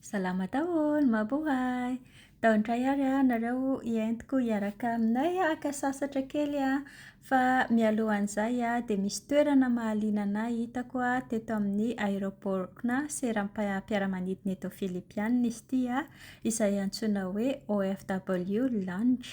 Salama daholo, mabohay! Tao indray ary aho nareo hientiko hiaraka aminay haka sasatra kely an! Fa mialohan'izay an, dia misy toerana mahaliana anà hitako an, teto amin'ny aéroport-na seram-piaramanidina eto Filipiana izy ity an, izay antsoina hoe OFW Lounge.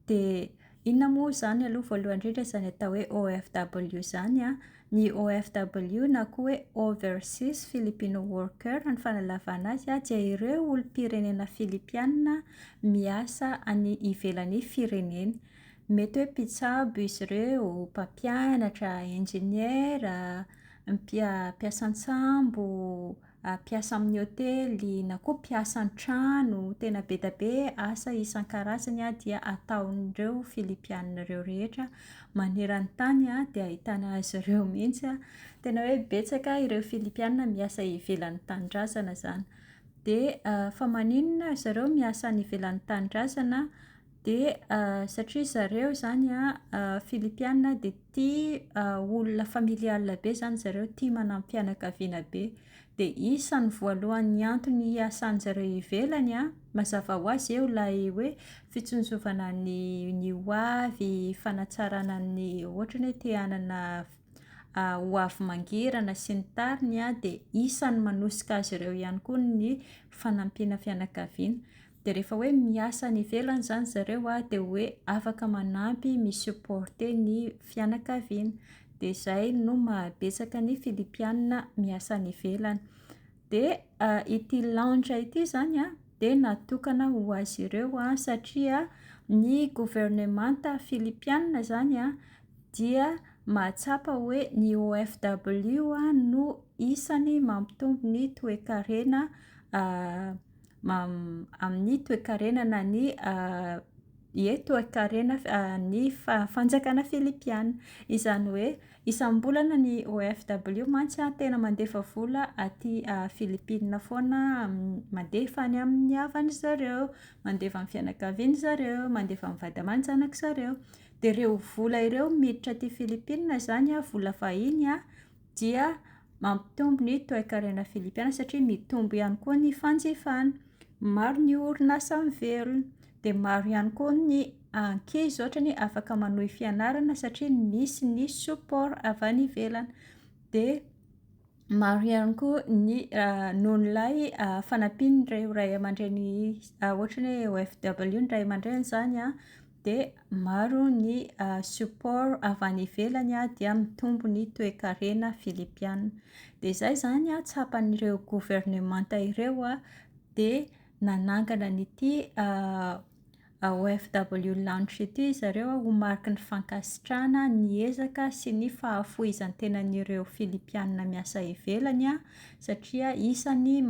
Dia Inona moa izany aloha voalohany indrindra izany atao hoe OFW izany an? Ny OFW na koa hoe Overseas Filipino Worker ny fanalavana azy an, dia ireo olom-pirenena Filipiana miasa any ivelan'ny fireneny. Mety hoe mpitsabo izy ireo, mpampianatra, injeniera, mpia- mpiasa an-tsambo, mpiasa amin'ny hotely na koa mpiasa an-trano, tena be dia be asa isan-karazany dia ataon'ireo Filipiana ireo rehetra maneran-tany dia ahitana azy ireo mihitsy, tena hoe betsaka ireo Filipiana miasa ivelan'ny tanindrazana izany, dia fa maninona ry zareo miasa any ivelan'ny tanindrazana? Dia satria zareo izany Filipiana dia tia olona familiale be izany zareo, tia manam-pianakaviana be. Dia isan'ny voalohan'ny antony hiasan'ny zareo ivelany an, mazava ho azy eo ilay hoe fitsinjovana ny ny ho avy, fanatsarana ny ohatra te hanana ho avy mangirana sy ny tariny an, dia isan'ny manosika azy ireo ihany koa ny fanampiana fianakaviana. de rehefa hoe miasa any ivelany izany zareo a de hoe afaka manampy mi-supporter ny fianakaviana de izay no mahabetsaka ny filipiana miasa any ivelany de ity lounge ity izany a de natokana ho azy ireo a satria ny governemanta filipiana izany a dia mahatsapa hoe ny OFW no isany mampitombo ny toekarena amin'ny toekarena na ny ie toekarena ny fanjakana filipiana. Izany hoe isam-bolana ny OFW mantsy tena mandefa vola aty Filipina foana, mandefa any amin'ny havany zareo, mandefa amin'ny fianakaviany zareo, mandefa amin'ny vady aman-janaka zareo. Dia ireo vola ireo miditra aty Filipina izany, vola vahiny an, dia mampitombo ny toekarena filipiana satria mitombo ihany koa ny fanjifana. Maro ny orinasa miverina. Dia maro ihany koa ny ankizy ohatrany hoe afaka manohy fianarana satria misy ny support avy any ivelany. Dia maro ihany koa ny noho ilay fanampian'ireo ray aman-dreny ohatran'ny hoe OFW ny ray aman-dreny izany an. dia maro ny support avy any ivelany dia mitombo ny toekarena filipiana. Dia izay izany tsapan'ireo governemanta ireo dia nanangana an'ity OFW Lounge ity ry zareo ho mariky ny fankasitrahana ny ezaka sy ny fahafoizan-tenan'ireo filipiana miasa ivelany satria isan'ny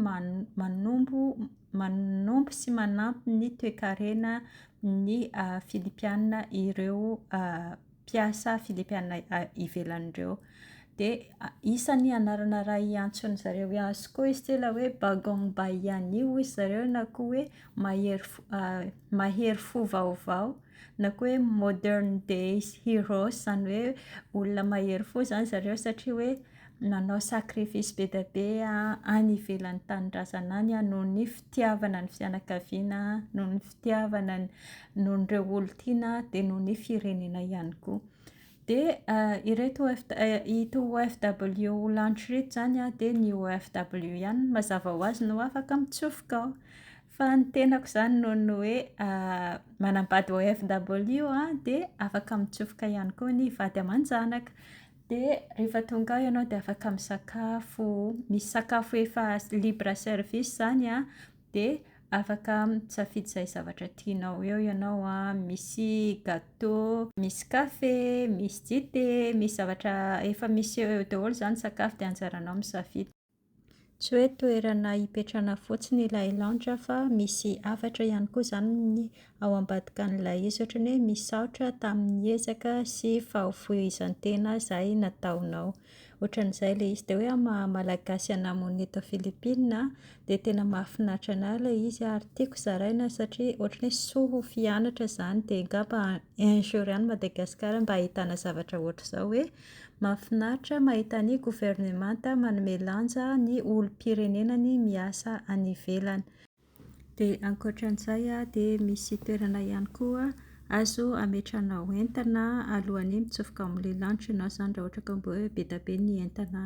manombo sy manampy ny toekarena ny Filipiana ireo mpiasa Filipiana ivelany ireo. Dia isan'ny anarana iray iantsoan'ny zareo azy koa izy ity ilay hoe Bagong Bayani hoy zareo na koa hoe mahery fo mahery fo vaovao na koa hoe Modern Day Heroes, izany hoe olona mahery fo izany zareo satria hoe nanao sacrifice be dia be any ivelan'ny tanindrazana any noho ny fitiavana ny fianakaviana, noho ny fitiavana ny, noho ny ireo olon-tiana dia noho ny firenena ihany koa. Dia ireto ito OFW ho lantitra ireto izany dia ny OFW ihany no mazava ho azy no afaka mitsofoka ao. Fa ny tenako izany noho ny hoe manambady OFW aho dia afaka mitsofoka ihany koa ny vady aman-janaka. Dia rehefa tonga ao ianao dia afaka misakafo, misy sakafo efa libre service izany an, dia afaka misafidy izay zavatra tianao eo ianao an, misy gateau, misy kafe, misy dite, misy zavatra efa misy eo eo daholo izany ny sakafo dia anjaranao misafidy. Tsy hoe toerana hipetrahana fotsiny ilay lounge fa misy hafatra ihany koa izany ao ambadika an'ilay izy, ohatran'ny hoe misaotra tamin'ny ezaka sy fahafoizan-tena izay nataonao. Ohatran'izay ilay izy. Dia hoe amin'ny maha malagasy anà monina eto Philippines an, dia tena mahafinaritra anà ilay izy ary tiako zaraina satria ohatran'ny hoe soa ho fianatra izany dia angamba un jour any Madagasikara mba ahitàna zavatra ohatr'izao hoe Mahafinaritra mahita ny governemanta manome lanja ny olom-pirenenany miasa any ivelany. Dia ankoatran'izay dia misy toerana ihany koa azo ametrahanao entana alohan'ny mitsofoka amin'ilay lanitra ianao zany raha ohatra ka mba hoe be dia be ny entana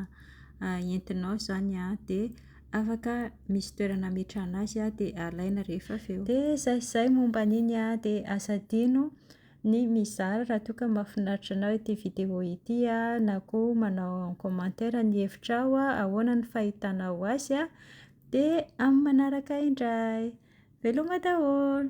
entinao zany dia afaka misy toerana ametrahana azy dia alaina rehefa avy eo. Dia izay sy izay momba an'iny dia aza adino. ny mizara raha toa ka mahafinaritra anao ity vidéo ity na koa manao en commentaire ny hevitrao ahoana ny fahitanao azy dia amin'ny manaraka indray! Veloma daholo!